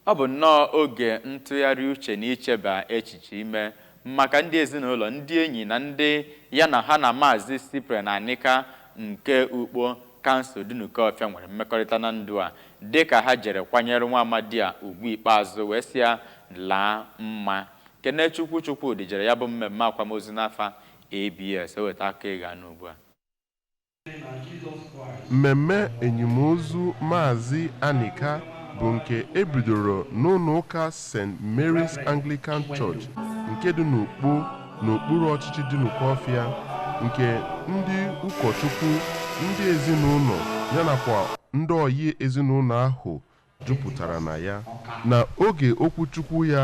Ọ bụ nnọọ oge ntụgharị uche na icheba echiche ime maka ndị ezinụlọ, ndị enyi, na ndị ya na ha na Maazị Cyprian Anika nke Ukpo Council Dunukofia nwere mmekọrịta na ndụ a dị ka ha jere kwanyere nwa amadi a ugwu ikpeazụ wee sị ya laa mma. Kenechukwu Chukwudi jere ya bụ mmemme akwamozu n'afa ABS. O weta akụkọ ị ga-anụ ugbu a. Mmemme enyimozu Maazị Anika bụ nke e bidoro n'ụlọụka St. Mary's Anglican Church nke dị n'Ukpo n'okpuru ọchịchị Dunukofia nke ndị ụkọchukwu, ndị ezinụlọ ya nakwa ndị ọyị ezinụlọ ahụ jupụtara na ya. Na oge okwuchukwu ya,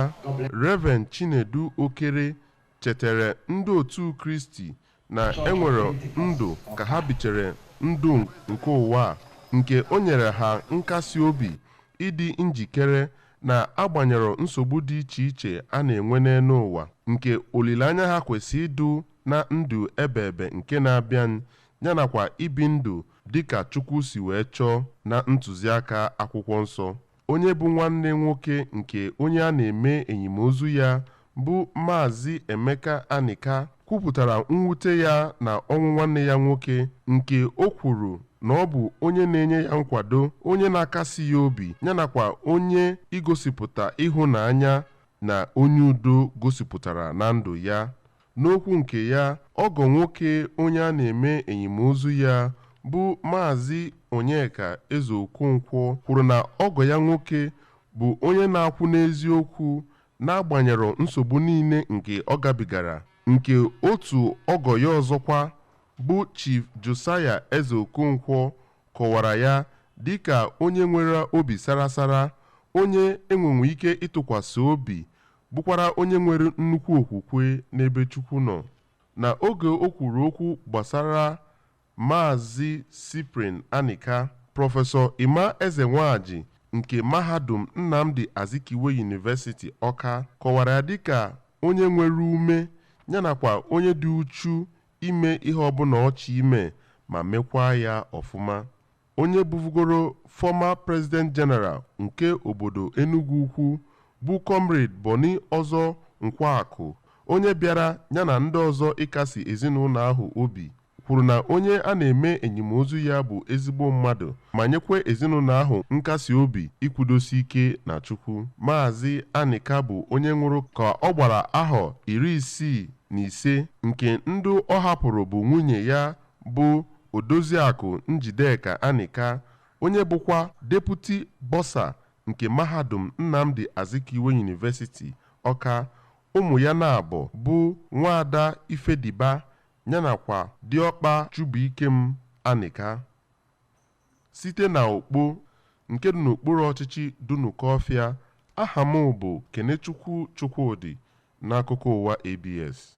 Rev. Chinedu Okere chetere ndị otu Kristi na enwere ndụ ka ha bichere ndụ nke ụwa a nke o nyere ha nkasi obi ịdị njikere na agbanyerọ nsogbu dị iche iche a na-enwe n'elu ụwa nke olileanya ha kwesị ịdụ na ndụ ebeebe nke na-abịa yanakwa ibi ndụ dịka Chukwu si wee chọọ na ntụziaka akwụkwọ nsọ. onye bụ nwanne nwoke nke onye a na-eme enyimozu ya bụ Maazị Emeka Anika kwupụtara mwute ya na ọnwụ nwanne ya nwoke nke o kwuru na ọ bụ onye na-enye ya nkwado onye na-akasi ya obi ya nakwa onye igosipụta ịhụnanya na onye udo gosipụtara na ndụ ya N'okwu nke ya, ọgọ nwoke onye a na-eme enyimozu ya bụ Maazị Onyeka Ezeokonkwo kwuru na ọgọ ya nwoke bụ onye na-akwụ n'eziokwu n'agbanyerọ nsogbu niile nke ọ gabigara, nke otu ọgọ ya ọzọkwa bụ Chief Josiah Ezeokonkwo kọwara ya dịka onye nwere obi sarasara, onye e nwenwu ike ịtụkwasị obi bụkwara onye nwere nnukwu okwukwe n'ebe Chukwu nọ, na oge o kwuru okwu gbasara Maazị Cyprian Anika, Prọfesọ Emma Ezenwaji nke Mahadum Nnamdi Azikiwe University, Ọka, kọwara ya dịka onye nwere ume ya nakwa onye dị uchu ime ihe ọbụla ọ chọ ime ma mekwaa ya ọfụma. Onye bụbugoro former President General nke obodo Enugwu Ukwu bụ Comrade Bonny Ozo Nkwuaku, onye bịara ya na ndị ọzọ ịkasi ezinaụlọ ahụ obi, kwuru na onye a na-eme enyimozu ya bụ ezigbo mmadụ ma nyekwa ezinaụlọ ahụ nkasi obi ikwudosi ike na Chukwu. Maazị Anika bụ onye nwụrụ ka ọ gbara ahọ iri isii na ise nke ndị ọ hapụrụ bụ nwunye ya bụ Odoziakụ Njideka Anika, onye bụkwa Deputy Bursar nke Mahadum Nnamdi Azikiwe University, Ọka, ụmụ ya naabọ bụ Nwaada Ifediba yana kwa Diọkpa Chubuikem Anika. Site na Ukpo, nke dị n'okpuru ọchịchị Dunukọfịa, aha m bụ Kenechukwu Chukwudị n'akụkọ ụwa ABS.